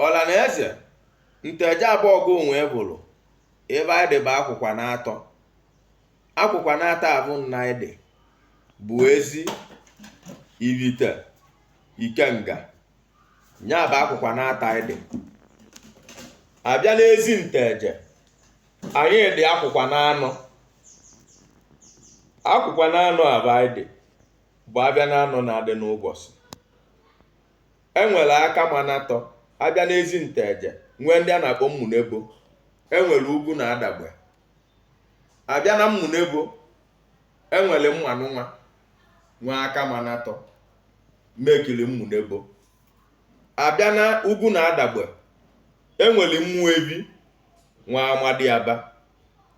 ọla na eze nteje abọgụ onwe bụrụ ebe anyị dị bụ akwụkwa na atọ akwụkwa na atọ abụ na anyị dị bụ ezi ibite ikenga nya bụ akwụkwa na atọ anyị dị abịa n'ezi nteje anyị dị akwụkwa na anọ akwụkwa na anọ abụ anyị dị bụ abịa na anọ na-adị n'ụbọsị E nwere Akamanatọ, a bịa n'ezi nteje, nwee ndị a na-akpọ mmunebo. E nwere ugwu na adagbe. A bịa na mmunebo, e nwere Mmụanụnwa, nwee Akamanatọ, mekiri mmunebo. A bịa na ugwu na adagbe, e nwere Mmụebi, nwee Amadiaba.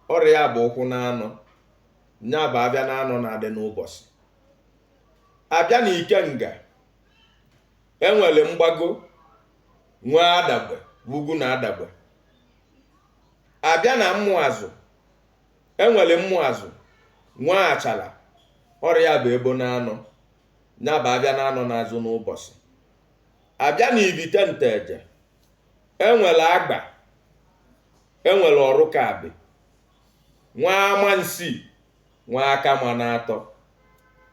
Ọ rị ya bụ ụkwụ na anọ. Nya bụ abịa na anọ na-adị n'ụbọsị. A bịa na ikenga, e nwere mgbago nwee adagbe ugwu na adagbe abịa na mmụazụ e nwere mmụazụ nwee achala ọ rị ya bụ ebo na anọ nya bụ abịa na anọ na-azụ n'ụbọsị abịa na ibite nteje enwere agba enwere ọrụkabị nwee amansi nwee akamanatọ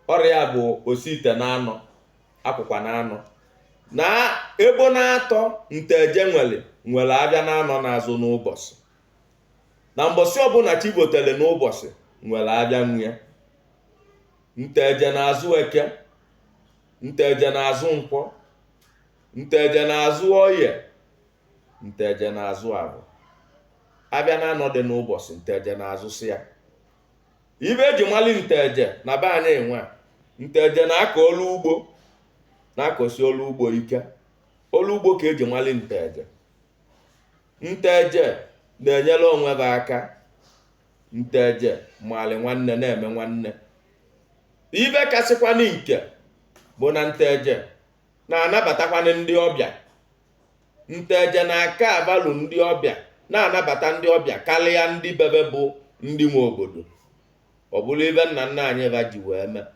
ọ rị ya bụ osi ite na anọ akwụkwa na anọ na ebo na atọ nteje nwere nwere abịa na anọ na-azụ n'ụbọsị na mbọsị ọbụna chi botali n'ụbọsị nwere abịa nwe ya nteje na-azụ eke nteje na-azụ nkwọ nteje na-azụ oye nteje na-azụ abọ abịa na anọ dị n'ụbọsị nteje na-azụsị ya ibe eji mali nteje na be anyị nwe nteje na-akọ ọrụ ugbo na-akọsi ọrụ ugbo ike ọrụ ugbo ka eji mali nteje nteje na-enyere onwe ba aka nteje mali nwanne na-eme nwanne ibe kasịkwanụ nke bụ na nteje na-anabatakwanụ ndị ọbịa nteje na-aka abalụ ndị ọbịa na-anabata ndị ọbịa karịa ndị bebe bụ ndị nwe obodo ọ bụrụ ibe nna nna anyị ba ji wee mee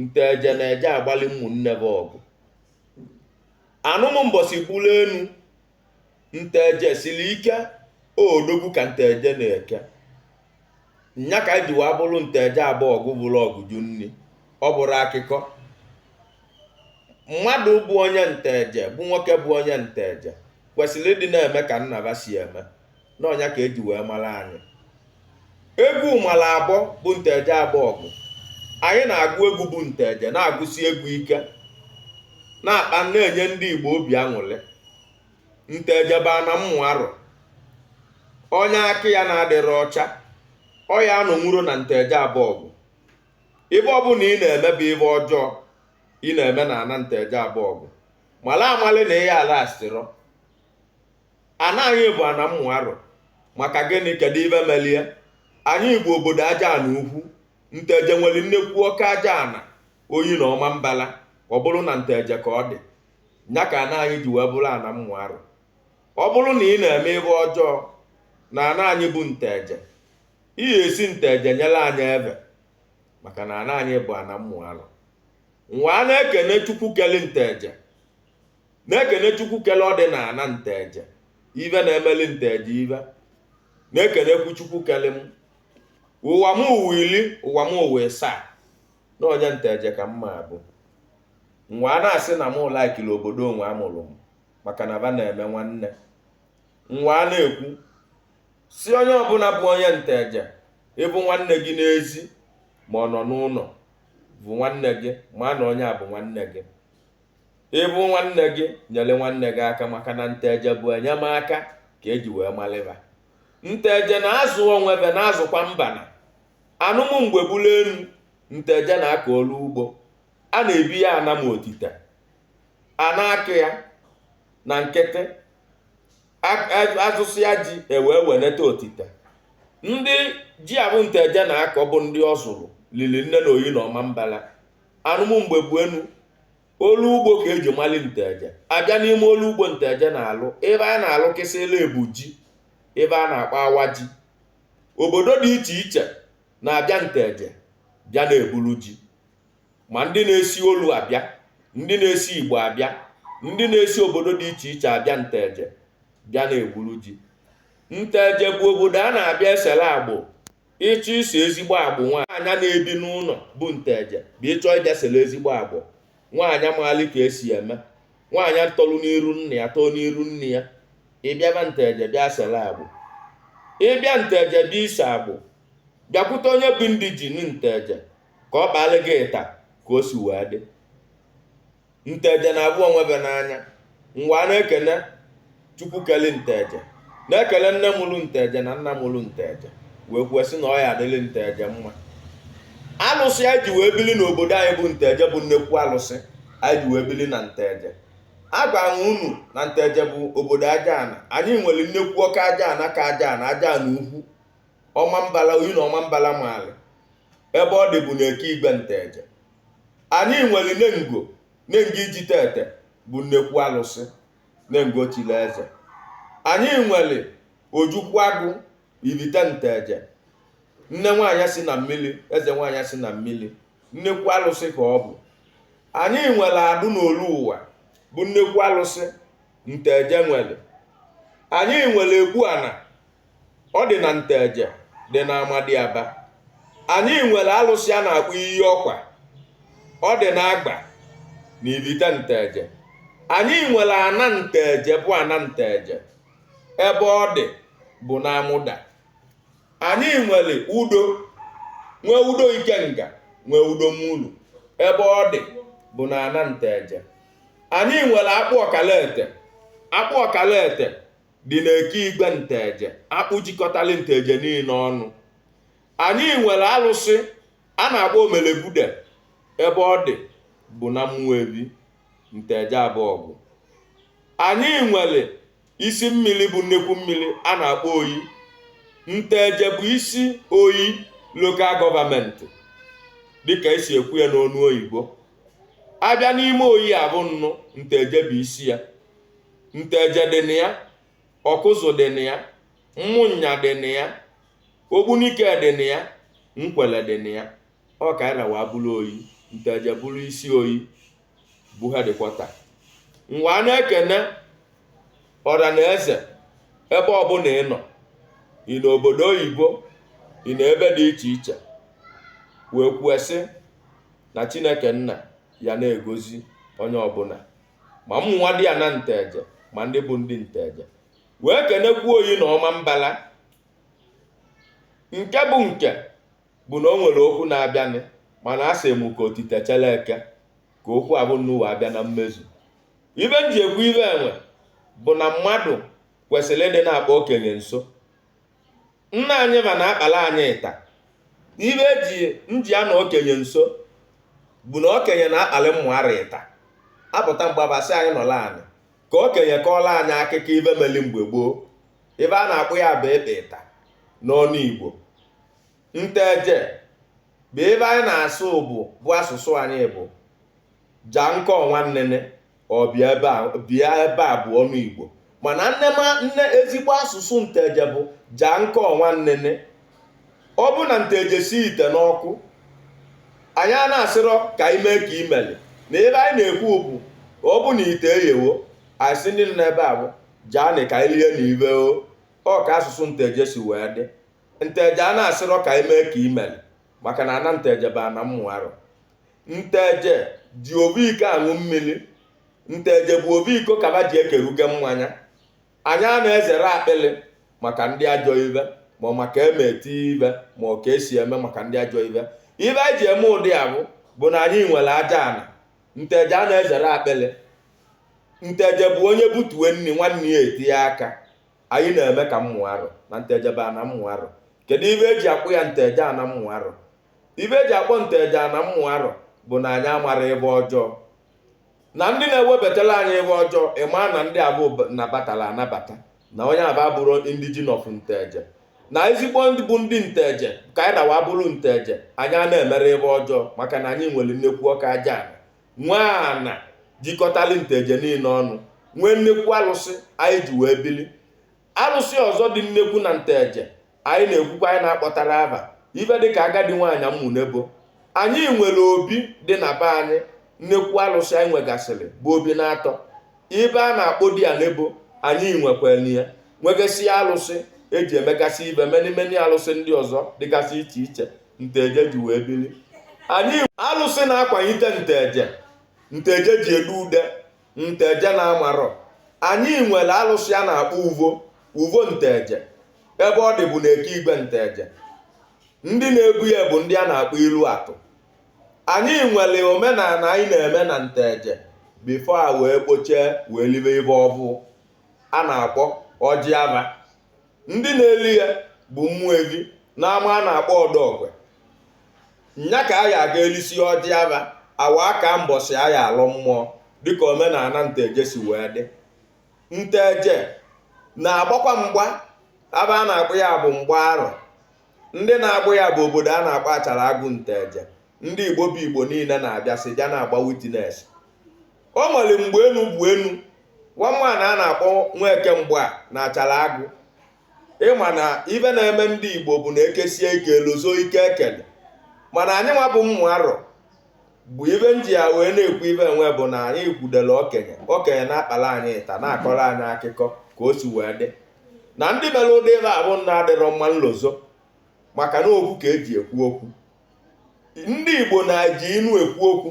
nteje na-eje agbalị ụmụnne bụ ọgụ anụmụ mbọsị bulu enu nteje siri ike odogwu ka nteje na-eke nya ka anyị ji wee bụrụ nteje abọgụ bụrụ ọgụ ju nni ọ bụrụ akụkọ mmadụ bụ onye nteje bụ nwoke bụ onye nteje kwesịrị ịdị na-eme ka nna ba si eme na ọ nya ka eji wee mara anyị egwu mara abọ bụ nteje abọgụ anyị na-agụ egwu bụ nteje na-agụsi egwu ike na-akpa na-enye ndị Igbo obi aṅụrị nteje bụ ana mmụ arụ onye aka ya na-adịrị ọcha ọ ya anọnwuro na nteje abọgụ ive ọbụla ị na-eme bụ ive ọjọọ ị na-eme na ana nteje abọgụ mala amali na ị ya alasịrọ ana anyị bụ ana mmụ arụ maka gịnị kedu ive melie anyị bụ obodo aja ana ukwu nteje nwere nnekwu ọka aja ana oyi na ọmambala ọ bụrụ na nteje ka ọ dị nya ka ana anyị ji wee bụrụ ana mmụ arụ ọ bụrụ na ị na-eme ive ọjọọ na ana anyị bụ nteje ị ga-esi nteje nyere anyị eve maka na ana anyị bụ ana mmụ arụ nwa a na-ekene chukwu kele nteje na-ekene chukwu kele ọ dị na ana nteje ive na-emeli nteje ive na-ekenekwu chukwu kele m ụwa m ụwa iri ụwa m ụwa ịsaa na onye nteje ka m ma-abụ nwa a na-asị na m laikiri obodo onwe amụrụ m maka na ba na-eme nwanne nwa a na-ekwu si onye ọbụla bụ onye nteje ị vụ nwanne gị n'ezi ma ọ nọ n'ụnọ vụ nwanne gị ma na onye a bụ nwanne gị ị vụ nwanne gị nyere nwanne gị aka maka na nteje bụ enyemaka ka eji wee mali ba nteje na-azụ onwe ve na-azụkwa mbana anụmụ mgbe bụrụ enu nteje na-aka ọlụ ugbo a na-ebi ya anam otite a na-akụ ya na nkịtị azụsịa ji ewee weneta otite ndị ji a bụ nteje na-akọ bụ ndị ọ zụrụ lili nne na oyi na ọmambala anụmụ mgbe bụ enu ọlụ ugbo ka eji mali nteje abịa n'ime ọlụ ugbo nteje na-alụ ebe a na-alụkịsịla ebu ji ebe a na-akpọ awa ji obodo dị iche iche na-abịa nteje bịa na-eburu ji ma ndị na-esi olu abịa ndị na-esi igbo abịa ndị na-esi obodo dị iche iche abịa nteje bịa na-eburu ji nteje bụ obodo a na-abịa esere agbọ ị chọọ ise ezigbo agbọ nwaanyị na-ebi n'ụnọ bụ nteje bụ ị chọọ ịbịa sere ezigbo agbọ nwaanyị maali ka esi eme nwaanyị tolu n'iru nna ya too n'iru nne ya ị bịaba nteje bịa sere agbọ ị bịa nteje bịa ise agbọ bịakwute onye bụ ndị ji nteje ka ọ kpaala gị ita ka o si wee dị nteje na-avụ onwe ve n'anya nwa a na-ekene chukwu keli nteje na-ekele nne mụrụ nteje na nna mụrụ nteje wee kwuo sị na ọ ya-adịrị nteje mma alụsị anyị ji wee bili n'obodo anyị bụ nteje bụ nnekwu alụsị anyị ji wee bili na nteje agwara m unu na nteje bụ obodo aja ana anyị nwere nnekwu ọka aja ana ka aja ana aja ana ukwu ọmambala oyi na ọmambala maali ebe ọ dị bụ na eke igwe nteje anyị nwere nengo nengo iji tete bụ nnekwu alụsị nengo chili eze anyị nwere ojukwu agụ ivite nteje nne nwaanyị si na mmili eze nwaanyị si na mmili nnekwu alụsị ka ọ bụ anyị nwere adụ n'olu ụwa bụ nnekwu alụsị nteje nwere anyị nwere egbu ana ọ dị na nteje dị na amadiaba anyị nwere alụsị a na-akpọ iyi ọkwa ọ dị na agba na ivite nteje anyị nwere ana nteje bụ ana nteje ebe ọ dị bụ na amụda anyị nwere udo nwee udo ikenga nwee udo mulu ebe ọ dị bụ na ana nteje anyị nwere akpụ ọkalaete akpụ ọkalaete dị n'eke igwe nteje akpụ jikọtali nteje niine ọnụ anyị nwere alụsị a na-akpọ omelebude ebe ọ dị bụ na ụmụevi nteje abọgụ anyị nwere isi mmili bụ nnekwu mmili a na-akpọ oyi nteje bụ isi oyi local government dịka e si ekwu ya n'onu oyibo a bịa n'ime oyi avụnụ nteje bụ isi ya nteje dị na ya ọkụzụ dị na ya ụmụnya dị na ya ogbunike dị na ya nkwele dị na ya ọ ka anyị ra wee bụlụ oyi nteje bụlụ isi oyi bụ headquarter m wee na-ekene ọra na eze ebe ọbụna ị nọ ị nọ obodo oyibo ị nọ ebe dị iche iche wee kwuo sị na chineke nna ya na-egozi onye ọbụna ma ụmụ nwadiana nteje ma ndị bụ ndị nteje wee kenekwuo oyi na ọmambala nke bụ nke bụ na o nwere okwu na-abịanị mana a sị m ka otite chere eke ka okwu avụnụ wee bịa na mmezu ive m ji ekwu ive nwa bụ na mmadụ kwesịlị ịdị na-akpa okenye nso nna anyị ma na-akpalị anyị ịta ive e ji eji anọ okenye nso bụ na okenye na-akpalị ụmụaro ịta a pụta mgbe abasị anyị nọlụ anị ka okenye kọọlụ anyị akụkọ ive meli mgbe gboo ive a na-akpọ ya bụ ịkpa ịta n'ọnụ igbo nteje bụ ive anyị na-asụ bụ bụ asụsụ anyị bụ ja nkọ nwanne ọ bịa ebe a bịa ebe a bụ ọnụ Igbo mana nne ma nne ezigbo asụsụ nteje bụ jaa nke ọnwa nnene ọ bụ na nteje si ite n'ọkụ anyị a na-asịrọ ka anyị mee ka imeli na ive anyị na-ekwu bụ ọ bụ na ite eghewo anyị sị ndị nọ n'ebe a bụ jaanụ ka anyị lie na ive o ọ ka asụsụ nteje si wee dị nteje a na-asịrọ ka anyị mee ka imeli maka na ana nteje bụ ana mmụ arọ nteje ji ovu iko aṅụ mmiri nteje bụ ovu iko ka aba ji ekeruge mmanya anyị a na-ezerọ akpịlị maka ndị ajọ ive ma ọ maka eme eti ibe ma ọ ka esi eme maka ndị ajọ ive ive anyị ji eme ụdị a bụ bụ na anyị nwere aja ana nteje a na-ezerọ akpịlị nteje bụ onye butue nri nwanne ya etinye aka anyị na-eme ka mmụ arọ na nteje bụ ana mmụ arọ kedu ive eji akpọ ya nteje ana mmụ arọ ive eji akpọ nteje ana mmụ arọ bụ na anyị amarọ ive ọjọọ na ndị na-ewebatala anyị ive ọjọọ ịma na ndị abụ nabatara anabata na onye aba abụrọ indijin of nteje na ezigbo ndị bụ ndị nteje ka anyị dawa bụrụ nteje anyị a na-emerọ ive ọjọọ maka na anyị nwere nnekwu ọka aja ana nwee ana jikọtali nteje niile ọnụ nwee nnekwu alụsị anyị ji wee bili alụsị ọzọ dị nnekwu na nteje anyị na-ekwukwa anyị na-akpọtara aba ive dị ka agadi nwaanyị mmụ nebo anyị nwere obi dị na be anyị nnekwu alụsị anyị nwegasịrị bụ obi na-atọ ive a na-akpọ di ya nebo anyị nwekwere ya nwegasị alụsị eji emegasị ive meni meni alụsị ndị ọzọ dịgasị iche iche nteje ji wee bili anyị alụsị na-akwanite nteje nteje ji ede ude nteje na amarọ anyị nwere alụsị a na-akpọ uvo uvo nteje ebe ọ dị bụ na eke igwe nteje ndị na-ebu ya bụ ndị a na-akpọ ilu atụ anyị nwere omenala anyị na-eme na nteje bifo a wee kpochie wee libe ive ọbụ a na-akpọ ọjị aba ndị na-eli ya bụ mmụ evi n'ama a na-akpọ ọdọọkwe nya ka a ya aga elisi ọjị aba awa aka mbọsị a ya alọ mmụọ dịka omenala nteje si wee dị nteje na-agbakwa mgba ava a na-akpọ ya bụ mgba arọ ndị na-agba ya bụ obodo a na-akpọ achara agụ nteje ndị igbo bụ igbo niile na-abịasị bịa na-agba witness o nwere mgbe enu bụ enu nwa nwaanyị a na-akpọ nweke mgba n'achara agụ ịma na ive na-eme ndị igbo bụ na ekesie ike elozọ ike ekele mana anyị nwa bụ mmụ arọ bụ ive m ji ya wee na-ekwu ive ọnwa bụ na anyị kwudere okenye okenye na-akpara anyị ịta na-akọrọ anyị akụkọ ka o si wee dị na ndị mere ụdị ive abụ nna adịrọ mma nlozọ maka na okwu ka eji ekwu okwu ndị igbo na-eji inu ekwu okwu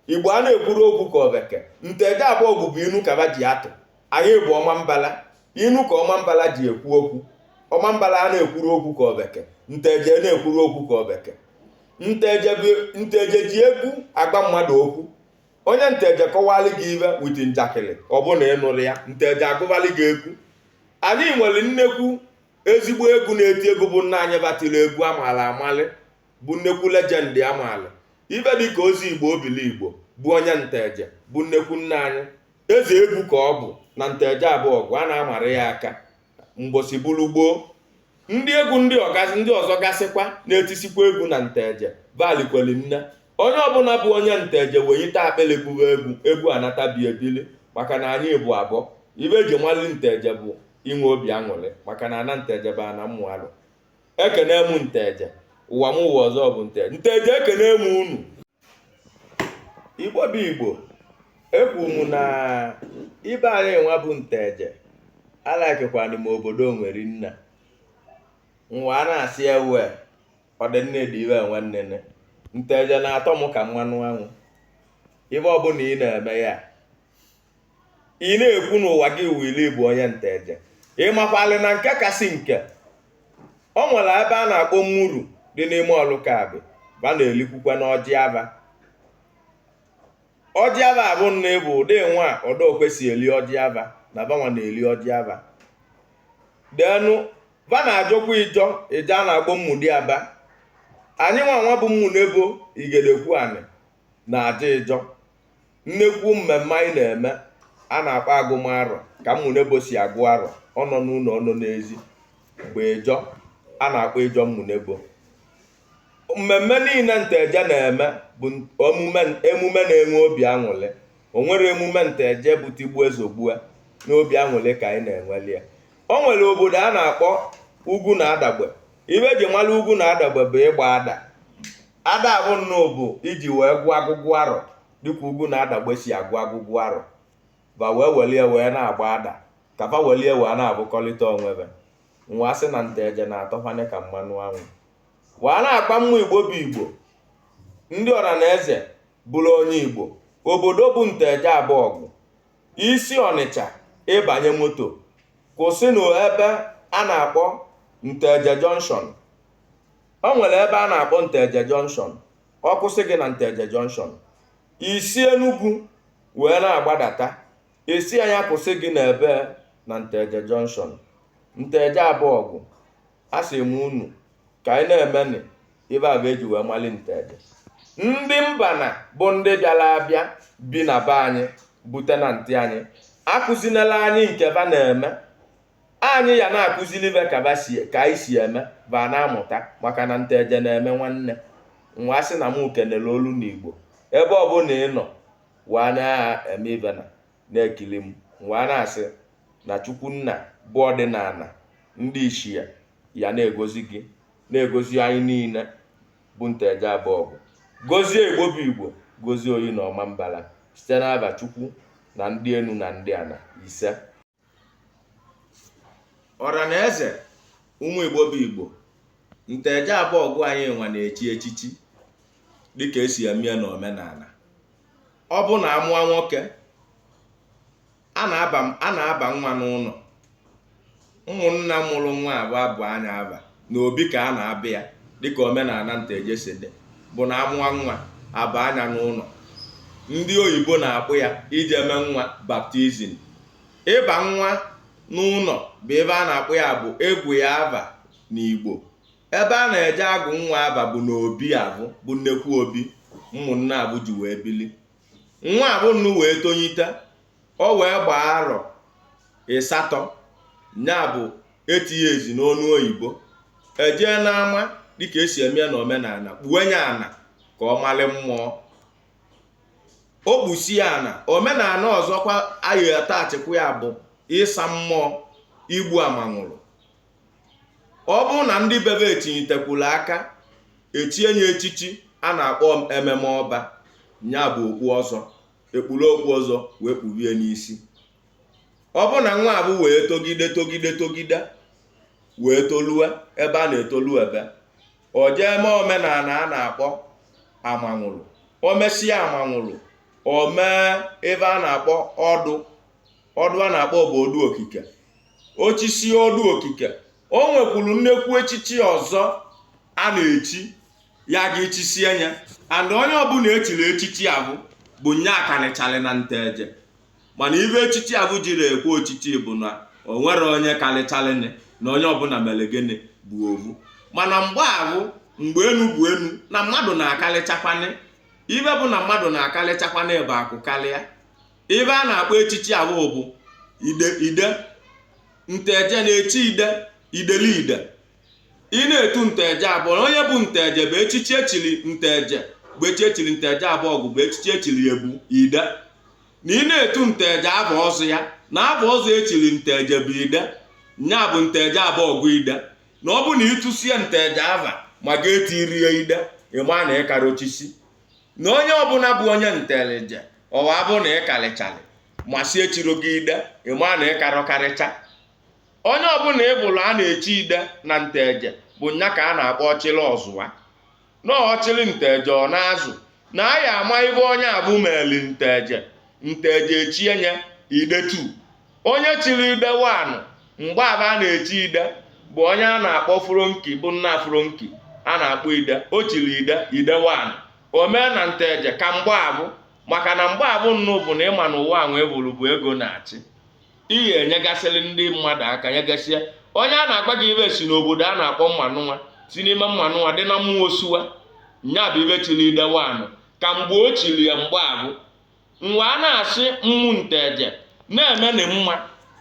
igbo a na-ekwuru okwu ka obeke nteje abọgụ bụ inu ka ba ji atụ anyị bụ ọmambala inu ka ọmambala ji ekwu okwu ọmambala a na-ekwuru okwu ka obeke nteje na-ekwuru okwu ka obeke nteje bụ- nteje ji egwu agwa mmadụ okwu onye nteje kọwalị gị ibe with njakịrị ọ bụ na ịnụrụ ya nteje agụbalị gị egwu anyị nwere nnekwu ezigbo egwu na-eti egwu bụ nna anyị ba tili egwu amaala amalị bụ nnekwu legend amaala ibe dị ka ezigbo obiligbo bụ onye nteje bụ nnekwu nna anyị eze egwu ka ọ bụ na nteje abọgụ a na-amara ya aka mbọsị bụrụ gboo ndị egwu ndị ọzọ gasịkwa na-etisikwa egwu na nteje va likweli nne onye ọbụla bụ onye nteje wenyite akpịlị bụrụ egwu egwu anatabi ebili maka na anyị bụ abụọ ibe e ji malị nteje bụ inwe obi aṅụrị maka na ana nteje bụ ana mmụ alụ ekene m nteje ụwa m ụwa ọzọ bụ nteje nteje ekene m unu igbo bụ igbo ekwu m na ibe anyị nwa bụ nteje alakịkwanụ m obodo nwere nna nwa a na-asị ewe ọdịnne dị iwe nwanne nteje na-atọ m ka mmanụ anwụ ibe ọbụla ị na-eme ya ị na-ekwu n'ụwa gị wili bụ onye nteje ị makwalị na nke kasị nke o nwere ebe a na-akpọ mmuru dị n'ime ọlụkabị ba na-elikwukwanụ ọjị aba ọjị aba abụ nna ịbụ ụdị nwa ọdọokwe si eli ọjị aba na ba nwa na-eli ọjị aba denu ba na-ajọkwa ịjọ ịjọ a na-akpọ amadiaba anyị nwa nwa bụ mmunebo igedekwu anị na aja ịjọ nnekwu mmemme anyị na-eme a na-akpọ agụm arọ ka mmunebo si agụ arọ ọ nọ n'ụlọ ọ nọ n'ezi bụ ịjọ a na-akpọ ịjọ mmunebo mmemme niile nteje na-eme bụ emume emume na-enwe obi aṅụrị o nwere emume nteje bụ tigbue zọgbue n'obi aṅụrị ka anyị na-enweli ya o nwere obodo a na-akpọ ugwu na adagbe ibe e ji mara ugwu na adagbe bụ ịgba ada Ada abụ nna ọ bụ iji wee gụọ agụgụ arọ dịka ugwu na adagbe si agụ agụgụ arọ ba wee welie wee na-agba ada ka fa welie wee na-abụkọlịta onwe ba nwa sị na nteje na-atọ anyị ka mmanụ anwụ wee na-agba mma igbo bụ igbo ndị ọra na eze bụrụ onye igbo obodo bụ nteje abọgụ i si ọnịcha ị banye moto kwụsị n'ebe a na-akpọ nteje junction o nwere ebe a na-akpọ nteje jọnshọn ọ kwụsị gị na nteje jọnshọn ị si enugwu wee na-agbadata ị sị nya kwụsị gị n'ebe na nteje jọnshọn nteje abọgụ a sị m unu ka anyị na-emenị ive avụ e ji wee mali nteje ndị mba na bụ ndị bịara abịa bi na be anyị bụ tenantị anyị akụzinela anyị nke va na-eme anyị ya na-akụziri va ka anyị si eme va ana-amụta maka na nteje na-eme nwanne m wee sị na m kene olu na igbo ebe ọbụla ị nọ wee na-eme ive na na-ekiri m wee na-asị na chukwu nna bụ ọdịnala ndị ichie ya na-egozi gị na-egozi anyị niile bụ nteje abọgụ gozie igbo bụ igbo gozie oyi na ọmambala site n'ava chukwu na ndị enu na ndị ana ise ọra na eze ụmụ igbo bụ igbo nteje abọgụ anyị nwa na-echi echichi dịka e si eme ya n'omenana ọ bụ na a mụọ nwoke a na-aba nwa n'ụnọ ụmụnna mụrụ nwa avụ agụọ nya ava na obi ka a na-abịa ya dịka omenana nteje si dị bụ na a mụọ nwa a baa nya n'ụnọ ndị oyibo na-akpọ ya ije eme nwa baptizim ịba nwa n'ụnọ bụ ive a na-akpọ ya bụ ịgụ ya ava na igbo ebe a na-eje agụ nwa ava bụ na obi avụ bụ nnekwu obi ụmụnna avụ ji wee bili nwa avụnụ wee tonyite ọ wee gbaa arọ isatọ ya bụ eight years n'ọnụ oyibo e jee n'ama dịka e si eme ya n'omenana kpue ya ana ka ọ malị mmụọ o kpusie ana omenana ọzọkwa anyị atachikwa ya bụ ịsa mmụọ igbu amanwụrụ ọ bụrụ na ndị be va etinyitekwuru aka echie ya echichi a na-akpọ ememe ọba ya bụ okpu ọzọ e kpuru okpu ọzọ wee kpurie n'isi ọ bụ na nwa avụ wee togide togide togide wee tolue ebe a na-etolube o jee mee omenana a na-akpọ amanwụrụ o mesịa amanwụrụ o mee ive a na-akpọ ọdụ ọdụ a na-akpọ bụ ọdụ okike o chisie ọdụ okike o nwekwuru nnekwu echichi ọzọ a na-echi ya ga-echisie ya and onye ọbụla echiri echichi ahụ bụ nya kalịchalị na nteje mana ive echichi ahụ jirọ ekwe ochichi bụ na o nwerọ onye kalịchalị na onye ọbụla mere gịnị bụ ovu mana mgbe ahụ mgbe enu bụ enu na mmadụ na-akalịchakwanị ibe bụ na mmadụ na-akalịchakwanị aba akụ karịa ibe a na-akpọ echichi ahụ bụ ide ide nteje na-echi ide idele ide ị na-etu nteje abụọ na onye bụ nteje bụ echichi echiri nteje bụ echi echiri nteje abọgụ bụ echichi echiri ya bụ ide na ị na-etu nteje ava ọzọ ya na ava ọzọ echiri nteje bụ ide nya bụ nteje abọgụ ide na ọ bụ na itusia nteje ava ma gị eturo ya ide ịma na ịkara ochisi na onye ọbụla bụ onye nteje ọwa abụ na ịkarịcharị ma si echiro gị ide ịma na ịkarọ karịcha onye ọbụla ịvụlụ a na-echi ide na nteje bụ nya ka a na-akpọ ọchịrị ọzụa na ọchịrị nteje ọ na-azụ na a ya ama ive onye avụ meli nteje nteje echie nya ide two onye chiri ide one mgbe avụ a na-echi ide bụ onye a na-akpọ fronki bụ nna fronki a na-akpọ ide o chiri ide ide one o mee na nteje ka mgbe avụ maka na mgbe avụ nnụ bụ na ịma na ụwa anwa ịvụlụ bụ ego na-achị ị ga-enyegasịrị ndị mmadụ aka nyegasịa onye a na-agwa gị ive si n'obodo a na-akpọ ụmụanụnwa si n'ime ụmụanụnwa dị na ụmụ osuwa nya bụ ive chiri ide one ka mgbe o chiri ya mgbe avụ mgbe a na-asị ụmụ nteje na-emenụ mma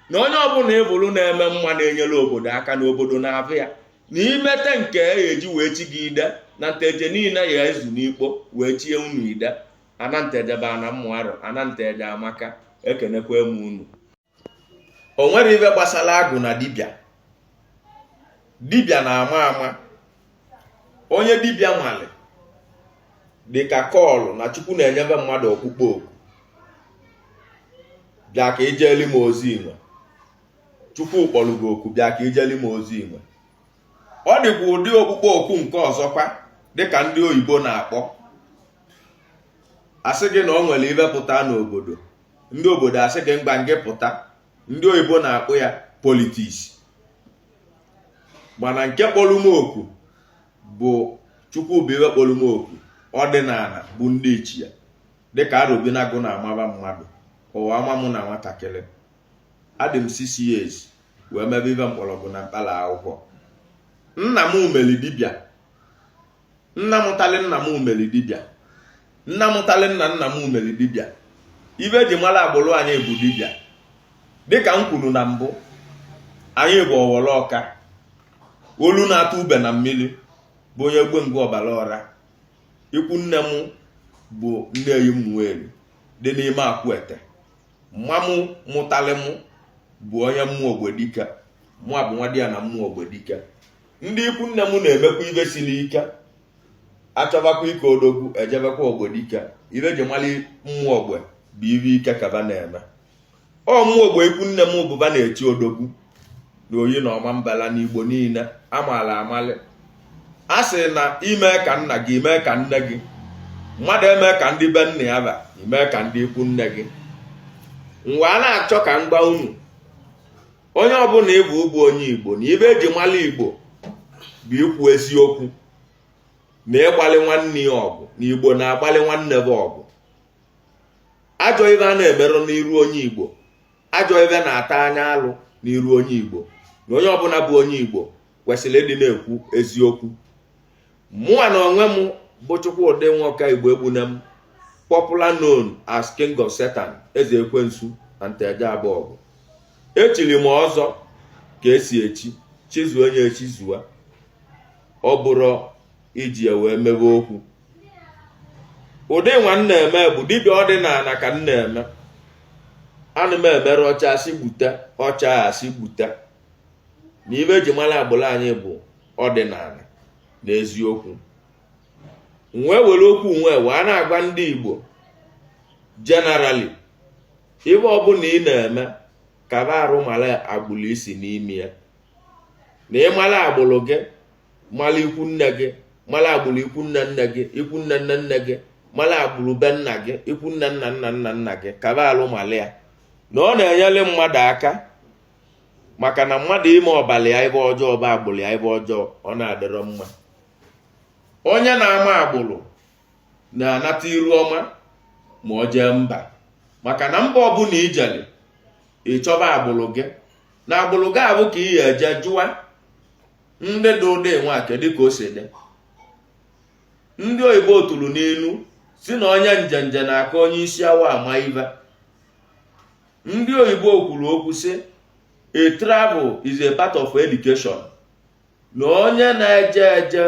na onye ọbụla ịvụrụ na-eme mma na-enyere obodo aka na obodo na-avụ ya na imete nke e eji wee chi gị ide na nteje niile ya ezu n'ikpo wee chie unu ide ana nteje bụ ana mmụarụ ana nteje amaka ekenekwa m unu o nwere ive gbasara agwụ na dibịa dibịa na-ama ama onye dibịa nwale dị ka call na chukwu na-enyeve mmadụ ọkpụkpọ oku bịa ka ijeli m ozi inwe chukwu kpọrọ gị oku bịa ka ijeli m ozi inwe ọ dịkwa ụdị ọkpụkpọ oku nke ọzọkwa dịka ndị oyibo na-akpọ asị gị na ọ nwere ive pụta n'obodo ndị obodo asị gị ngwa ngị pụta ndị oyibo na-akpọ ya politics mana nke kpọrọ m oku bụ chukwu bụ ive kpọrọ m oku ọdịnana bụ ndị ichie dịka arobinagụ na-amaba mmadụ ụwa ama mụ na nwatakịrị adị m six years wee mebe ive mkpọrọgwụ na mkpara akwụkwọ nna mụ meli dibịa nna mụtali nna mụ meli dibịa nna mụtali nna nna mụ meli dibịa ive eji mara agbụrụ anyị bụ dibịa dịka m kwuru na mbụ anyị bụ ọwọrọ ọka olu na-atụ ube na mmiri bụ onye gbe ngwa ọbara ọra ikwu nne m bụ nneyi ụmụeri dị n'ime akwụete mama m mụtalị m bụ onye ụmụ ogbadike mụ abụ nwadiana ụmụ ogbadike ndị ikwu nne m na-emekwa ibe siri ike achọbakwa ike odogwu ejebekwa ogbe dike ibe e ji mali mmụọ ogbe bụ ibe ike ka ba na-eme ọ mmụọ ogbe ikwu nne m bụ ba na-eti odogwu na Oyi na Ọmambala n'igbo niile amala amali a sị na i me ka nna gị i me ka nne gị mmadụ eme ka ndị be nna ba i me ka ndị ikwu nne gị m wee na-achọ ka m gwa unu onye ọbụna ị bụ bụ onye igbo na ibe eji mara igbo bụ ikwu eziokwu na ịgbalị nwanne ya ọgụ na igbo na-agbalị nwanne ba ọgụ ajọ ibe a na-emerụ n'iru onye igbo ajọ ibe na-ata anya alụ n'iru onye igbo na onye ọbụna bụ onye igbo kwesịrị ịdị na-ekwu eziokwu mụwa na onwe m bụ Chukwudi Nwoka Igboegbunam popular known as King of Satan eze ekwensu na Nteje Abọgụ echiri m ọzọ ka esi echi chizue onye echizua ọ bụrụ iji ya wee mebe okwu ụdị nwa m na-eme bụ dibịa ọdịnana ka m na-eme ana m emere ọcha asị gbute ọcha asị gbute na ibe eji mara agbụrụ anyị bụ ọdịnala na eziokwu m wee were okwu nwee wee na-agwa ndị Igbo generally ibe ọbụna ị na-eme kaba arụ mara agbụrụ i si n'ime ya na ị mara agbụrụ gị mara ikwu nne gị mara agbụrụ ikwu nne nne gị ikwu nne nne nne gị mara agbụrụ be nna gị ikwu nne nna nna nna nna gị kaba arụ mara ya na ọ na-enyere mmadụ aka maka na mmadụ ime ọbala ya ibe ọjọọ ọ bụ agbụrụ ya ibe ọjọọ ọ na-adịrọ mma onye na-ama agbụrụ na-anata iru ọma ma ọ jee mba maka na mba ọbụna i jele ị chọba agbụrụ gị na agbụrụ gị abụ ka ị ya-eje jụa ndị dị ụdị nwa kedu ka o si dị ndị oyibo tụrụ n'inu sị na onye njenje na-aka onye isi awọ ama ibe ndị oyibo kwuru okwu sị a travel is a part of education na onye na-eje eje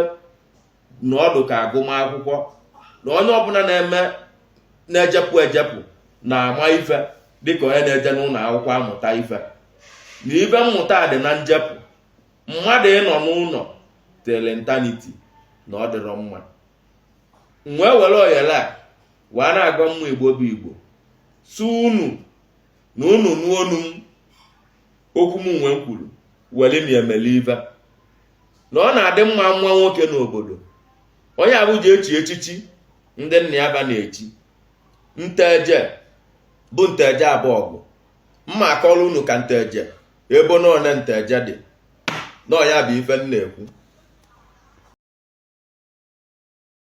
na ọ dị ka agụmakwụkwọ na onye ọbụna na-eme na-ejepụ ejepụ na-ama ife dịka onye na-eje n'ụnọ akwụkwọ amụta ife na ibe mmụta dị na njepụ mmadụ ịnọ n'ụnọ till eternity na ọ dịrọ mma wee were oyele a wee na-agwa ụmụ igbo bụ igbo sị unu na unu nụọ onu m okwu m nwa m kwuru were na-emeli ibe na ọ na-adị mma nwa nwoke n'obodo onye a bụ e ji echi echichi ndị nna ba na-echi Nteje bụ Nteje Abọgụ m ma-akọrọ unu ka Nteje ebo na one Nteje dị nọ ya bụ ife m na-ekwu